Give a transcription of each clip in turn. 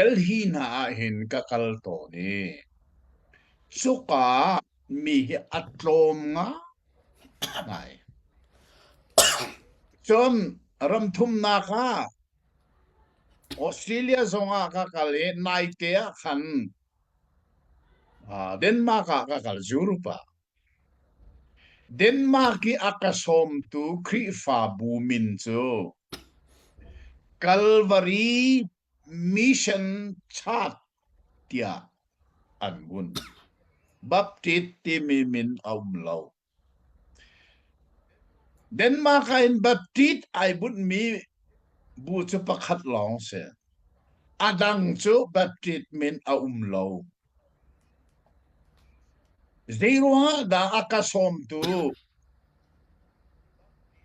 Delhi hna ahhin ka kal tawn i cuka ah mi hi a tlawm ngai. Cun ram thumnak ah Australia zong ah ka kal i naite ah khan ah, Denmark ah ka kal Europe ah. Denmark i a ka sawmtu Khrihfabu min cu Calvary Mission Church tiah an vun. Baptist timi min a um lo. Denmark ah in Baptist ai bunhmi bu cu pakhat lawng si. A dang cu Baptist min a um lo. Zeiruangah dah a ka sawmtu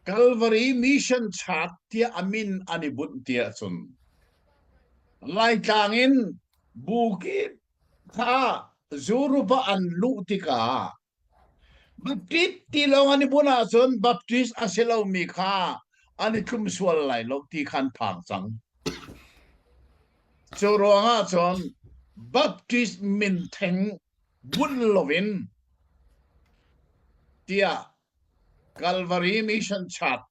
Calvary Mission Church tiah a min an i bunh ti ahcun Laitlang in bu kip kha zuruk ah an luh tikah Baptist ti lawngah ni bunh ahcun Baptist a si lomi kha an i tlum sual lai lo ti kha an phang cang. Cu ruangah cun Baptist min theng bunh loin tiah Calvary Mission Church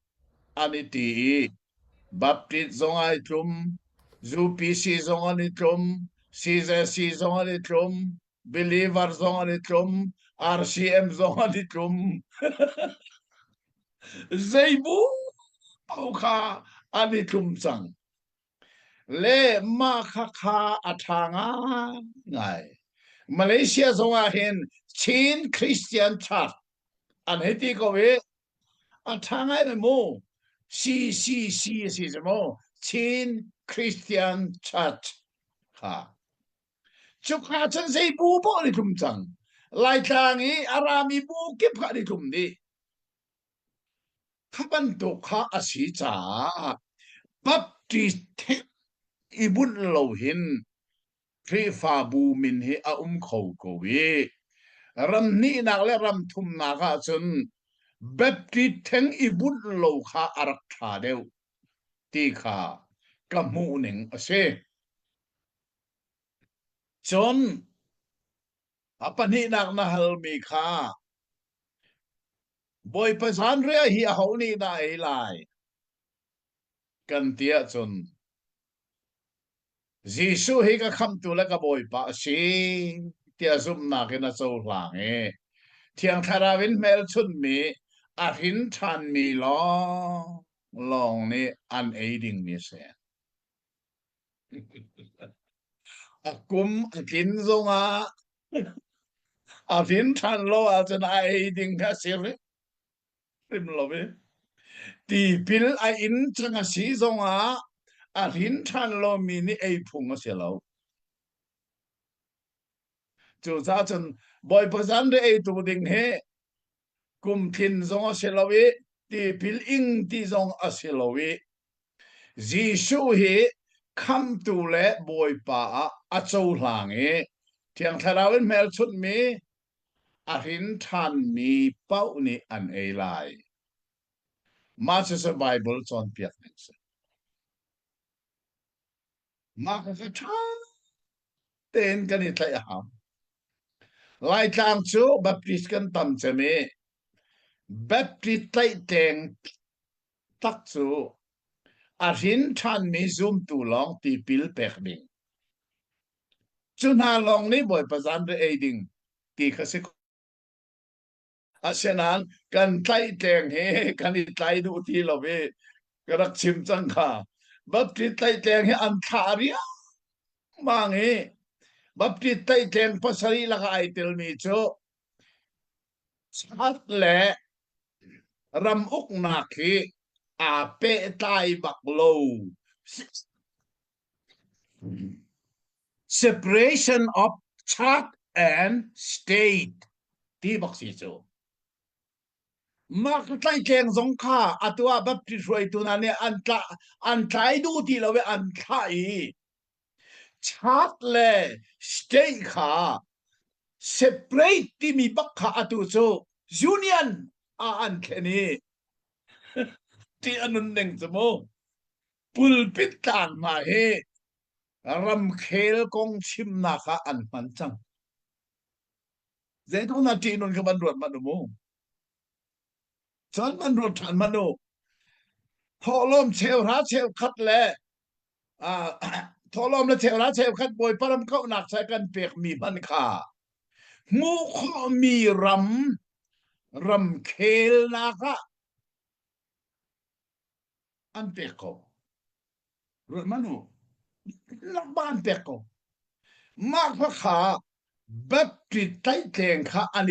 an i ti i Baptist zong ai tlum, UPC zong an i tlum, CJC zong an i tlum, Believer zong an i tlum. RCM zong an i tlum. Zeibu kha an i tlum cang. Le mah kha kha a ṭha ngai. Malaysia zong ah hin Chin Christian Church an hei ti ko i a ṭha ngai le mu. CCC a si semaw Chin Christian Church kha Cuk hna chan sei bu paw ni tlum cang. Laitlang i a rami bu kip kha ni tlum ni. Bantuk kha a si caah papti i bunh lo hin Khrihfabu min hi a um kho ko i ram hnihnak le ram thumnak ah cun Baptist theng i bunh lo kha a rak ṭha deuh ti kha ka hmuh ning a si. Cun a pahnihnak na halmi kha Bawipa zanriah hi aho nih dah a ei lai? kan ti ahcun Jesuh hi ka khamhtu le ka Bawipa a si tiah zumhnak in a cohlang i Thiang Thlarau in hmelchunhmi a hrin ṭhanmi lawng lawng nih an ei dingmi a si. A kum a tlin zongah a vin ṭhan lo ahcun a ei ding kha a si hrim lo i tipil a in cang a si zongah a hrin ṭhan lomi nih ei phung a si lo. Cucaah cun Bawipa zan ri eitu ding hi kum thin zong a si lo i tipil ing ti zong a si lo i Jesuh hi khamtu le bawipa ah a cohlang i thiang thlarau in hmelchunhmi a hrin ṭhanmi pauh nih an ei lai. Mah cucu Baibal cawnpiak ning a si. Mah ka ṭha tein kan i tlaih a hau. Laitlang cu Baptist kan tam cem i Baptist tlaih teng tak cu a hrin ṭhanmi zumtu lawng tipil pek ding. Cu hna lawng nih Bawipa zanre ei ding ti kha si Asinain kan tlaih tleng hi kan i tlai duh ti lo i ka rak chim cang kha. Baptist tlaih tleng hi an thlah riangmang i Baptist tlaih tleng pasarih laka ai telmi cu sat le ram uknak hi aa pehtlai bak lo. Separation of church and state ti bak si cu. Mark tlaitleeng zong kha atu ah Baptist hruaitu hna nih an tla an tlai duh ti lo i an thlah i church le state kha separate timi bak kha atu cu union ah an thlen i ti a nun ning cu mu. Pulpit tlang hna hi ramkhel kong chimnak ah an hman cang. Zeitluk na ṭih nun kha van ruat manh u mu. Cun van ruat ṭhan manh u. Thawhlawm cheuhra cheukhat le thawhlawm le cheuhra cheukhat Bawipa ram kauhnak sai kan pekmi hman kha hmuh khawhmi ram ramkhelnak ah an pek ko ruat manu lakba an pek ko mah kha kha battery tlaih tleng kha an